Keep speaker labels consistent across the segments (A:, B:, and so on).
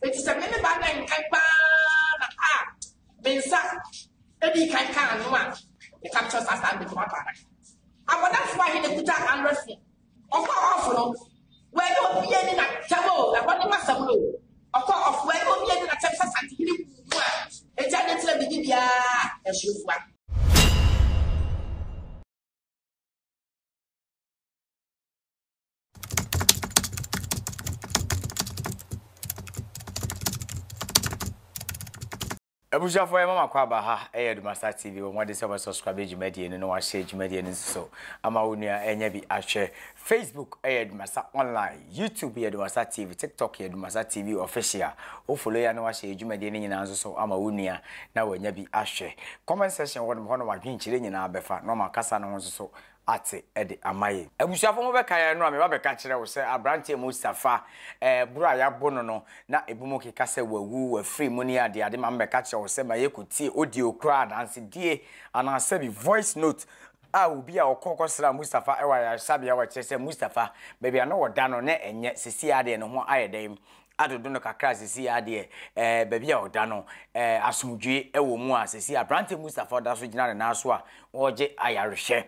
A: Enti sɛ me ne ba bɛn kan paa na a me nsa edi kan ka ano a, meka kyerɛ saa saa mɛtuma pa adaka. Abɔdafo ahe na ekuta Android phone? Ɔkɔ ɔfo no, wɔyɛ obi ani na tɛm o, ɛhɔ ne masɛm no o. Ɔkɔ ɔfo, wɔyɛ obi ani na tɛm sɛ sante hene kuku mu a, eti ade ntina bi di biara ɛhyew fua.
B: abusuafo yɛ mama kɔ aba ha ɛyɛ Dumasa TV wɔn ade sɛ wɔn subscribe dwumadie no na wɔahyɛ dwumadie no nso so ama wɔn nua ɛnyɛ bi ahwɛ Facebook ɛyɛ Dumasa online YouTube yɛ Dumasa TV TikTok yɛ Dumasa TV official wofolo ya na wɔahyɛ dwumadie no nyinaa nso so ama wɔn nua na wɔnya bi ahwɛ comment section wɔn hɔ na wɔadwenkyerɛ nyinaa bɛfa na wɔn akasa no ho nso so ate de ama yɛn. Abusuafo mo bɛka yɛn no a, me ba bɛka kyerɛ wo sɛ aberanteɛ Mustafa ɛɛ boro a yɛabo no no na ebi mo keka sɛ wawu, wafiri mu ne ade ade, maame bɛka kyerɛ wo sɛ ma yɛkɔ tie audio koraa adansedie anaa sɛ bi voice note a obi a ɔkɔ kɔ sraa Mustafa ɛwɔ ayaresabea ɔkyerɛ sɛ Mustafa baabi a na ɔda no na ɛnyɛ sesie adeɛ no ho ayɛ dɛn adodo no kakra sisi adeɛ ɛɛ baabi a ɔda no ɛɛ asomdwie ɛwɔ mu a sisi aberante Mustafa ɔda so gyina ne nan so a ɔregye ayarehwɛ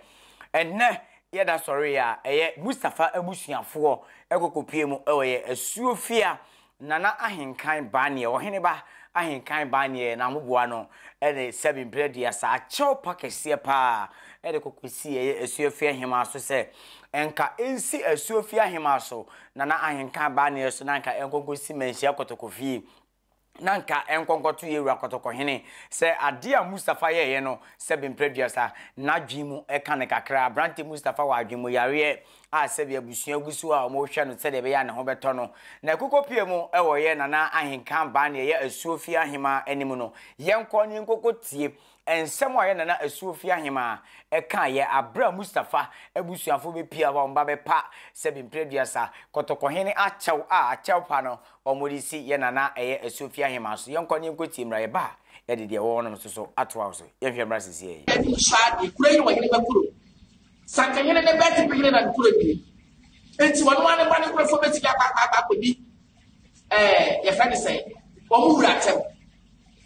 B: ɛnɛ yɛda sɔre a ɛyɛ Mustafa abusuafoɔ ɛkokopie mu ɛwɔ yɛ asuofia nana ahenkan baneɛ ɔhene ba ahenkan baneɛ na moboa no ɛne sɛbi mprɛ dua saa akyɛw pa kɛseɛ paa ɛde kokɔsi ɛyɛ asuofia hemaa so sɛ ɛnka ɛnsi asuofia hemaa so Nana Ahenka abaa neɛ so na anka ɛnkɔ nkɔsi Manhyia Kɔtɔkɔ fie. Na anka ɛnkɔ nkɔto yɛn wura Kɔtɔkɔhene. Sɛ adeɛ a Mustapha yɛeɛ no, sɛbe mprɛ aduasa, n'adwene mu ka no kakra. Aberanteɛ Mustapha wɔ adwene mu yareɛ a sɛbe abusua gu so a wɔrehwɛ no sɛdeɛ ɛbɛyɛ a ne ho bɛtɔ no. Na akukɔpie mu wɔ yɛ Nana Ahenka abaa neɛ yɛ Asuo fie ahemaa anim no. Yɛnkɔ na yɛnkɔkɔtie Nsɛm a yɛn nana Asuofi Ahemaa kaeɛ aberɛ a Mustafa abusuafoɔ bɛpia hɔ a wɔba bɛpa sɛbi mprɛduasa, Kɔtɔkɔhene akyɛw a akyɛwpa no wɔde si yɛn nana ɛyɛ Asuofi Ahemaa so. Yɛnkɔ na yɛnkɔtie mmra, yɛba a yɛde deɛ ɛwɔ hɔ no nso so atoa wo so. Yɛnhwɛ mmra seisei. Abisadeɛ, Kuro yi ne
A: ɔhene ba kuro. Sankahene ne Bɛɛtepe hene na ne kuro nie. Nti ɔno ara ne mma ne nkurɔfoɔ bɛtumi akɔ akɔ akɔdi ɛɛ yɛfrɛ ne sɛn wɔn wura atɛm.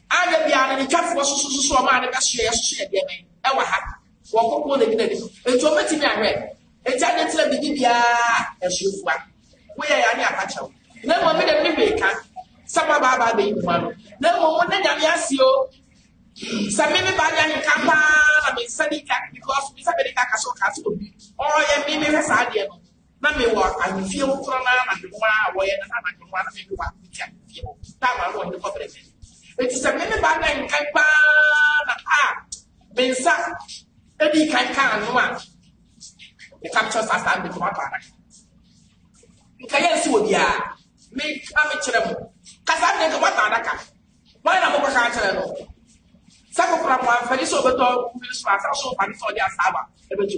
A: Ada biara no, ne twafoɔ sosososo ɔmaa no bɛsoɛ yɛsoso yɛ deɛ bɛn ɛwɔ ha. Wɔkɔkɔɔ no gyina nim. Nti wɔbɛtumi ahwɛ. Nti ade ntina biribi biara ɛsofoa. Woyɛ yɛ ane apakyɛw. Na mmom me dɛm ne hwee ka. Sɛ moabaabaa bɛyi mu ano. Na mmom mo ne nyame ase o. Sɛ me me baa nyɛ nka paa na me nsa di ka because me nsa bɛdi ka ka so ka so obi. Ɔyɛ me mehwɛ saa adeɛ no. Na me wɔ ahemfie hɔ koro no ara na me nwa a wɔyɛ no na anadwo nwa no me ne wɔn ahemfie ahemfie hɔ tam ano wɔn ne kɔbere fɛ. Enti sɛ me ne ba na nkan paa na a me nsa edi kan ka ano a me ka kyerɛ saa saa me tuma paa na nka yɛ nsi wɔ biara me ka me kyerɛ mo kasa ne nka wɔata adaka wɔn na mo kɔ ka kyerɛ no sɛ kokora mo amfani sɛ ɔbɛtɔ mmiri so asa so ɔfani sɛ ɔde asaaba ɛbɛtu.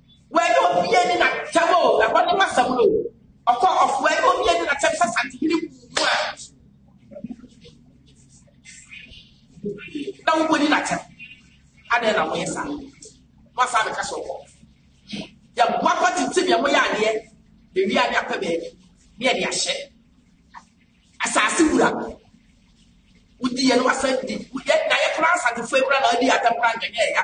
A: Wɔyɛ obi ani na tɛm o, ɛhɔ ne masɛm no o. Ɔkɔ ɔfo ɛyɛ obi ani na tɛm sɛ santehene wu mu a. Na wo boni na tɛm. Adɛn na moyɛ saa? Moasa bɛka sɛ ɔkɔ. Yɛboa kɔ tete deɛ moyɛ adeɛ. Ewi a ne apɛ baabi. Ne yɛde ahyɛ. Asase wura. Wodi yɛ no wasan di. Yɛ na yɛ koraa asantefo ekura na adi atɛm koraa nyɛ nyɛ ya.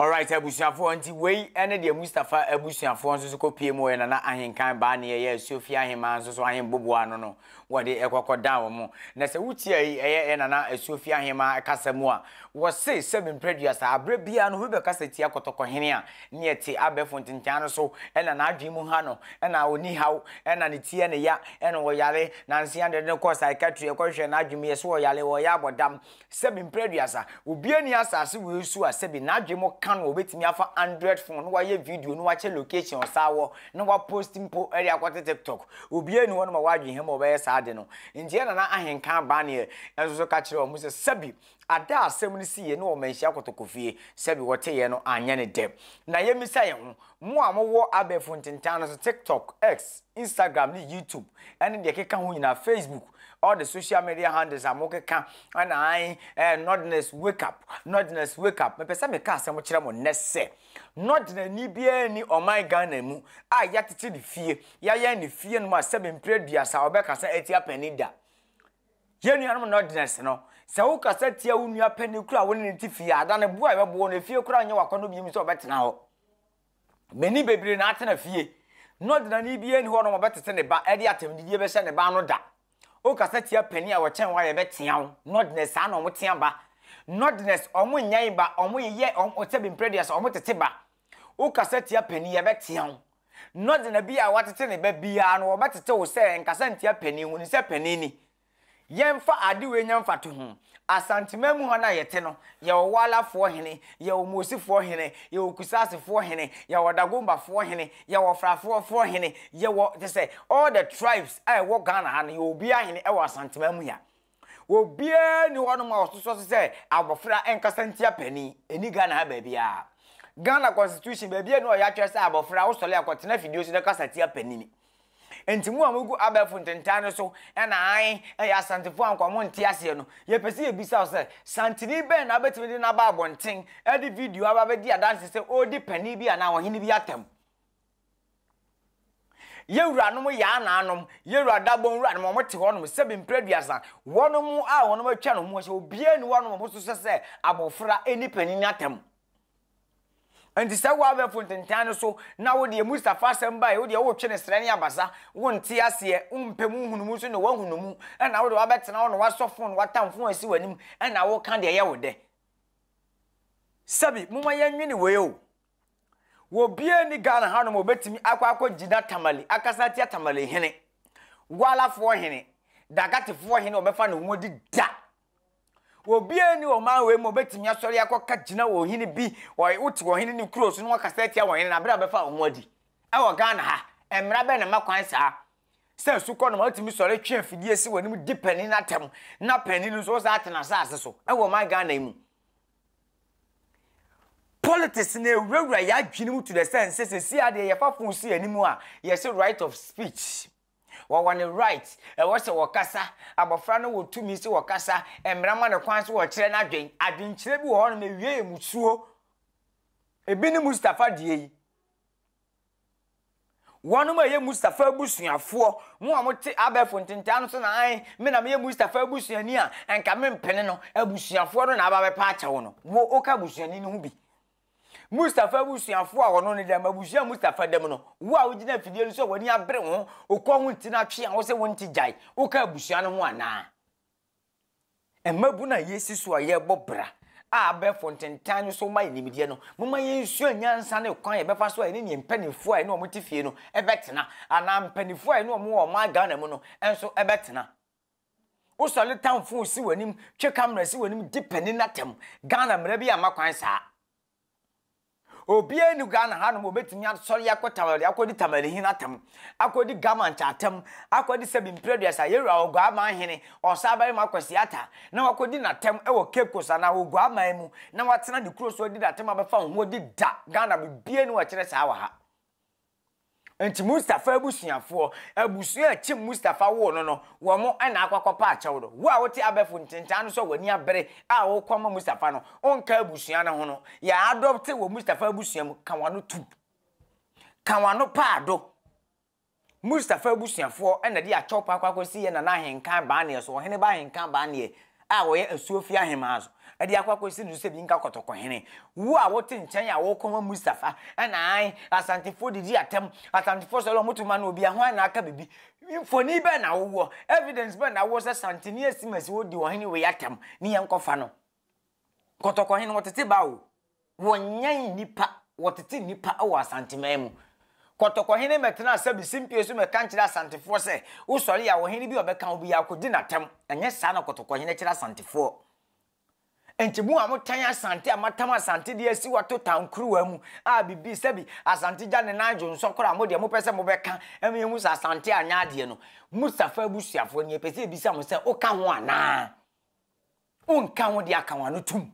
A: Alright
B: abusuafoɔ, nti wei ne deɛ Mustafa abusuafoɔ nso so kɔpie mu ɔyɛ Nana Ahenkan baa ne ɛyɛ Asuofie Ahemaa nso so Ahenboboa no no wɔde ɛkɔkɔ dan wɔn. Na sɛ wotie yi ɛyɛ ɛyɛ Nana Asuofie Ahemaa kasa mu a, wɔse sɛbi mprɛduasa aberɛ biara no obi bɛkasa tia Kɔtɔkɔhene a ne ɛte abɛɛfo ntentan no so na n'adwene mu ha no na ɔni haw na ne ti ne ya na ɔyare nansa yɛde no kɔ psychiatry ɛkɔhwehwɛ n'adwene mu yɛse ɔyare ɔyɛ abɔdam Sɛbi mprɛ aduasa. Obiaa nni asaase wei so a sɛbi n'adwene mu ka no a obɛtumi afa Android phone na wayɛ video na wakyɛ location a ɔsaa wɔ na wa post mpo de akɔte TikTok. Obiaa nni hɔ nom a wadwen he ma ɔbɛyɛ saa ade no. Nti yɛ Nana Ahenka Abanneɛ nso so ka kyerɛɛ ɔmo sɛ sɛbi ada a asɛm no siiɛ ne ɔmanhyia kotokofie sɛbi wɔteeɛ no anyɛ no dɛ. Na yɛmmisa yɛn ho, mo a mowɔ abɛɛfo ntentan no so, TikTok, X, Instagram ne YouTube ɛne deɛ ɛkeka ho nyinaa, Facebook, all the social media handles a mokeka ɛna ae ɛɛ Nordness wake up, Nordness wake up, mepɛ sɛ meka asɛm kyerɛ mo nnɛ sɛ Nordnani biara nni ɔman Ghana mu a yɛatete ne fie, yɛayɛn ne fie no ma sɛbe mprɛ aduasa a ɔbɛka sɛ atia panin da. Yɛn nuanom Nordness no, sɛ wokasa tia wo nua panin koro a wo ne no te fie a, da ne bo a ɛbɛbo wo no, efie koraa nyɛ w'akɔnnɔ bio mu sɛ ɔbɛtena hɔ. Mani bebree na atena fie, na ɔdenani biara nni hɔ a ɔne wɔn bɛtete ne ba de atɛmdidie bɛhyɛ ne ba ano da. Wokasa tia panin a ɔkyɛn wo a, yɛbɛtea wo. Nordness, saa na wɔtea ba. Nordness, wɔnyan ba, wɔyeyɛ wɔn sɛ bemprɛduas, wɔtete ba. Wokasa tia panin, yɛbɛtea wo. Nordna bi a watete ne ba biara no, wɔbɛtete wo sɛ nkasa ntia panin, hunu sɛ panin ni. Yɛmfa ade wei nyɛ mfatoho, Asanteman mu ha no a yɛte no, yɛwɔ Walafoɔ hene, yɛwɔ Moosifoɔ hene, yɛwɔ Kusaasefoɔ hene, yɛwɔ Dagombafoɔ hene, yɛwɔ Frafoɔfoɔ hene, yɛwɔ, kyerɛ sɛ, all the tribes a ɛwɔ Ghana ha no, yɛwɔ obiara hene ɛwɔ Asanteman mu ha. Obiara nni hɔnom a ɔtotoɔ so sɛ abɔfra nkasa ntia panin, ɛnni Ghana ha baabiara. Ghana Constitution, baabiara nni hɔ a yɛatwerɛ sɛ abɔfra, wosɔre a kɔtena afidie so na kasa tia panin. Enti mo a mogu abɛɛfo ntentan no so na ae yɛ Asantefo a nka wɔnte aseɛ no, yɛpɛ sɛ yɛbisa wo sɛ, Santeni bɛn na wobɛtumi de no aba abɔnten de video aba abɛdi adanse sɛ ɔredi panin bi anaa ɔhene bi atɛm? Yɛn wuranom yɛ anaanom, yɛn wura dabɔn wuranom, wɔte hɔnom sɛbe mprɛ aduasa, wɔnom a wɔnom atwa no ho ahyia, obiara nni hɔnom a wɔso sɛ sɛ abɔfra nni panin atɛm. Enti sɛ wo abɛɛfo ntentan no so na wo deɛ Mustafa asɛm bae wo deɛ wotwe no srɛ ne abasa, wo nte aseɛ, wo mpɛ mu nhunu mu nso na wahunu mu, ɛna wo deɛ wabɛtena hɔ na wasɔ fon na watamfo asi w'anim ɛna wo ka deɛ ɛyɛ wo dɛ. Sɛbi, moma yɛn nwene wei o. Wɔ biaa ni Ghana ha nom obɛtumi akɔ akɔ gyina Tamale akasa atia Tamale hene, Gwalafoɔ hene, Dagatefoɔ hene ɔbɛfa ne ho adi da. Obiara nni ɔman wei mu a obetumi asɔre akɔka gyina ɔhene bi, ɔy wote ɔhene ne kuro so na wakasa atia ɔhene na abere a bɛfa wɔn adi. Ɛwɔ Ghana ha, mmara bɛn na ma kwan saa? Sɛ sukɔ no ma wotumi sɔre twe afidie si w'anim di panin no atɛm na panin no nso ɔsan ate n'asase so. Ɛwɔ ɔman Ghana yi mu. Politics na ewurawura yɛn adwene mu to the sense sɛ sisi adeɛ yɛfa phone si anim a yɛse right of speech. Wɔwɔ ne right, ɛwɔ sɛ wɔkasa, abɔfra no wɔ tumi sɛ wɔkasa, mmara ma no kwan sɛ wɔkyerɛ n'adwen. Adwenkyerɛ bi wɔ hɔ nom ɛwie yɛ musuo. Ɛbi ne Mustafa deɛ yi. Wɔnom a ɛyɛ Mustafa abusuafoɔ, mo a mote abɛɛfo ntentaa no so na ae, me na meyɛ Mustafa abusuani a, nka mempene no, abusuafoɔ no na aba bɛpa akyɛw no. Wo, woka abusuani no ho bi. Mustafa abusuafo a wɔno no dɛm, abusua a Mustafa dɛm no, wo a wogyina afidie no so a w'ani abere wo ho, wokɔ ho nti no atwe a wose wonte gyae, woka abusua no ho anaa? Mmabunu a yɛasi so a yɛrebɔ bra a abɛɛfo ntentan no so ma yɛn nimdeɛ no, momma yɛnsua nyansa ne kwan a yɛbɛfa so a yɛne ne mpanimfoɔ a yɛne wɔn te fie no bɛtena, anaa mpanimfoɔ a yɛne wɔn wɔ ɔman Ghana mu no nso bɛtena. Wosɔre tan fon si w'anim, twe camera si w'anim, di panin no atam. Ghana mmara bi amma kwan saa. Obiara ni Ghana hanom obetumi asɔre akɔ tamale akɔdi tamalehin atam, akɔdi gamankyɛ atam, akɔdi sɛbi mprɛduasa, yɛwura Oguaman hene, ɔsabarima Kwasi Atta, na wakɔdi n'atam wɔ Cape Coast anaa Oguaman mu, na watena ne kuro so adi n'atam abɛfa ho adi da. Ghana biribiara ni wɔkyerɛ saa wɔ ha. Enti Mustafa abusuafoɔ, abusua a akyem Mustafa woo no no, wɔn na akɔ akɔpa akyɛw no. Wo a wote abɛfo ntentan no so a w'ani abere a wokɔ ama Mustafa no, wonka abusua no ho no. Yɛ adopte wɔ Mustafa abusua mu, ka w'ano tom. Ka w'ano paa do. Mustafa abusuafoɔ na de akyɛw pa akɔ akɔsi yɛn Nana Ahenkan Baaneɛ so, Ɔheneba Ahenkan Baaneɛ. a wɔyɛ asuo fie ahemaa so de akɔ akɔsi no so sɛ bi nka kɔtɔkɔhene. Wo a wote nkyɛn a wokɔma Mustafa na ae Asantefoɔ didi atɛm, Asantefoɔ sɔre wɔn to ma no obia hwan na aka biribi? Mfoni bɛn na wowɔ, evidence bɛn na wowɔ sɛ Santene Asiimasi ɔdi ɔhene wei atɛm ne yɛnkɔfa no? Kɔtɔkɔhene wɔtete baa o. Wɔnyan nnipa, wɔtete nnipa wɔ Asanteman mu. Kɔtɔkɔhene mmɛtenaa sɛ bisimpie so mmɛka nkyerɛ Asantefoɔ sɛ, wosɔre a, ɔhene bi a ɔbɛka wo biara kɔdi no atɛm. Ɛnyɛ saa na Kɔtɔkɔhene kyerɛ Asantefoɔ. Enti mo a motan Asante a moatam Asante de asi wato tankuruwa mu a bibi sɛbi Asante gya ne nan dwonsɔ koraa a modeɛ mopɛ sɛ mobɛka ma yɛahu sɛ Asante anyɛ adeɛ no, Mustafa abusuafoɔ, nea yɛpɛ sɛ yɛbisa mo sɛ, woka ho anaa? Wonka ho de aka wɔn ano tom.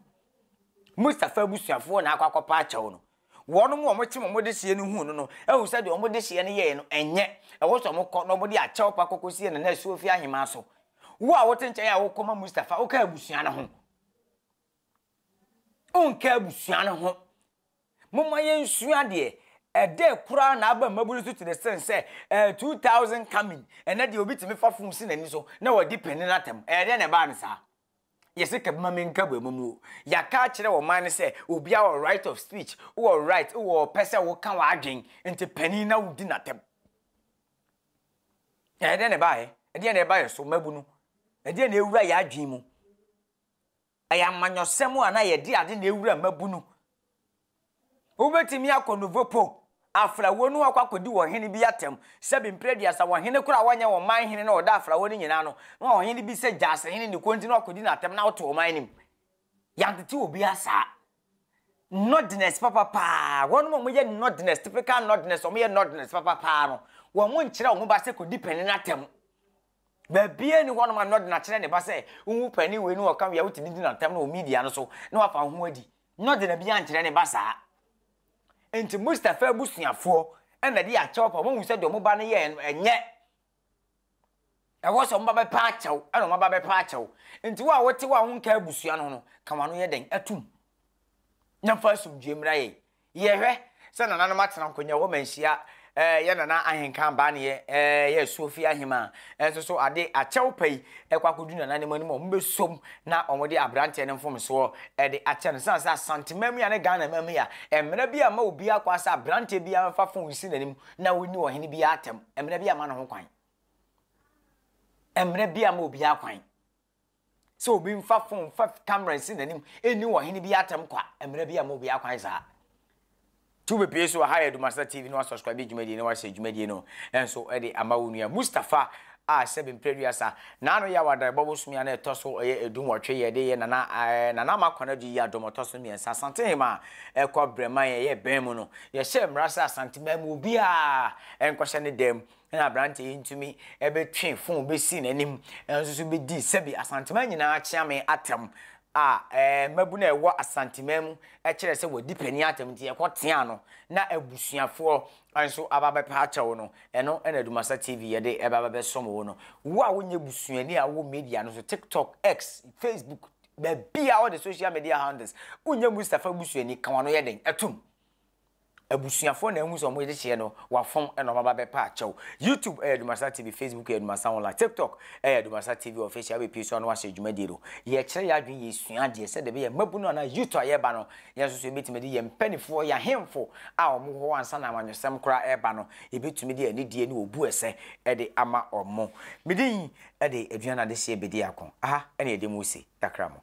B: Mustafa abusuafoɔ na akɔ akɔpa akyɛw no. Wɔn a wɔkyem wɔn dehyeɛ no huu no no ahu sɛ deɛ wɔn dehyeɛ no yɛeɛ no ɛnyɛ. Ɛwɔ sɛ wɔkɔ na wɔde akyɛw pa kɔkɔsie Nana Asuofie ahemaa so. Wo a wote nkyɛn a wokɔma Mustafa, woka abusua no ho? Wonka abusua no ho. Momma yɛnsua deɛ, Ɛdɛ koraa na aba mmabunu so tene sene sɛ ɛɛ 2000 coming, ɛnɛ deɛ obi tumi fa fon si n'ani so na wadi pene no atɛm, ɛyɛ dɛn na ɛbaa no saa? Yɛse ka bi ma menka bu ɛma mu o, yɛaka akyerɛ ɔman no sɛ obiara wɔ right of speech, wowɔ right, wowɔ ɔpɛ sɛ woka w'adwen, nti panin na wodi n'atɛm. Ɛyɛ dɛn na ɛbaeɛ? Ɛdeɛn na ɛba yɛn so mmabunu? Ɛdeɛn na ɛwura yɛn adwen mu? Ɛyɛ amanyɔsɛm a na yɛde ade na ewura mmabunu. Wobetumi akɔ Nouveau Pot, afrawo no akɔ akodi ɔhene bi atɛm, sɛbi mpere aduasa, wɔ hene koro a wanyɛ wɔn man hene na ɔda afrawo no nyinaa ano, na ɔhene bi sɛ Gyasihene ne kɔn nti na wakodi no atɛm na ɔte ɔman no mu. Yɛantete obiara saa. Nordness papa paa, wɔnom a wɔyɛ Nordness, typical Nordness, wɔn yɛ Nordness papa paa no, wɔn mo nkyerɛ wɔn ba sɛ kɔdi panin no atɛm. Baabiara ni hɔnom a Nordn akyerɛ ne ba sɛ, wohu panin wei ne ɔka wei a wotumi di n'atɛm no wɔ media no so na wafa ho adi. Nordn bi ankyerɛ ne ba saa. Nti Mustafa abusuafoɔ ɛna de akyɛw pa wɔn hu sɛ deɛ wɔn ba no yɛ ɛnyɛ Ɛwɔ sɛ wɔba bɛpɛ akyɛ wo, ɛna wɔaba bɛpɛ akyɛ wo. Nti wo a wote hɔ a wonka abusua no ho no, ka w'ano yɛ dɛn atom, na fa asomdwoe mmra yɛn. Yɛhwɛ sɛ nananom atena nkonnwa hɔ ma nhyia, eh, yɛn nana ahenka abaa ne yɛ, eh, yɛ asuofie ahemaa. Ɛnso so ade akyɛw pa yi ɛkɔ akɔdu nananom anim a wɔbɛsom na wɔde aberanteɛ no mfomsoɔ de akyɛ no. Sane sɛ Asante Mamia ne Ghana Mamia, mmara bi amma obiara kwan sɛ aberanteɛ biara mfa fon nsi n'anim na wonni ɔhene biara atam mmara bi a ma no ho kwan, mmara bi a ma obiara kwan sɛ obi mfa fon mfa kamera nsi n'anim ɛnni ɔhene biara atam kwa mmara bi a ma obiara kwan saa tu bebree so ha yɛ Dumasata TV na wasubscribe dwumadie na wahyɛ dwumadie no nso de ama wo nua Mustafa a sɛbe mpre aduasa na ano yɛ awadan bɔ bosome a na ɛtɔ so ɔyɛ edu nwɔtwe yɛ de yɛ nana aɛ nana ama kwan adu yi adom ɔtɔ so mmiɛnsa asantehemaa ɛkɔ brɛman yɛ yɛ bɛn mu no yɛ hyɛ mmara sɛ asanteman mu obiara ɛnkɔ hyɛ ne dan mu na abrante yi ntumi ɛbɛ twe fon bɛ si nanim ɛnso so bɛ di sɛbe asanteman nyinaa kyeame atɛm a ɛɛ mabu na ɛwɔ asanteman mu ɛkyerɛ sɛ wɔ di pɛni atɛm nti ɛkɔ tea no na abusuafoɔ Wan so aba bɛpɛ akyɛ wo no, ɛno na Dumasa TV yɛ de ɛba bɛbɛsom wo no. Wo a wonyɛ busuani a wowɔ media no so, TikTok, X, Facebook, baabi a all the social media handles, wonyɛ Mustafa busuani, ka w'ano yɛ den, ɛtom. Abusuafoɔ na ahu sɛ wɔn gyekyeɛ no, wafom na wɔn aba bɛpɛ akyɛ wo. YouTube ɛyɛ Dumasa TV, Facebook ɛyɛ Dumasa Online, TikTok ɛyɛ Dumasa TV Official, wobɛpie so a na wahyɛ dwumadie no. Yɛkyerɛ yɛn adwene, yɛsua adeɛ sɛdeɛ ɛbɛyɛ mmabunu anaa youth a yɛreba no, Yɛn nso so yebetumi de yɛn mpanimfoɔ, yɛn ahemfo a wɔwɔ hɔ ansa na amanyɔsɛm koraa reba no, yebetumi de anidie ne obu a ɛsɛ de ama wɔn. Me din de Aduane Adehyeɛ Bedi Ako. Aha na yɛde mo resi. Yɛakra mo.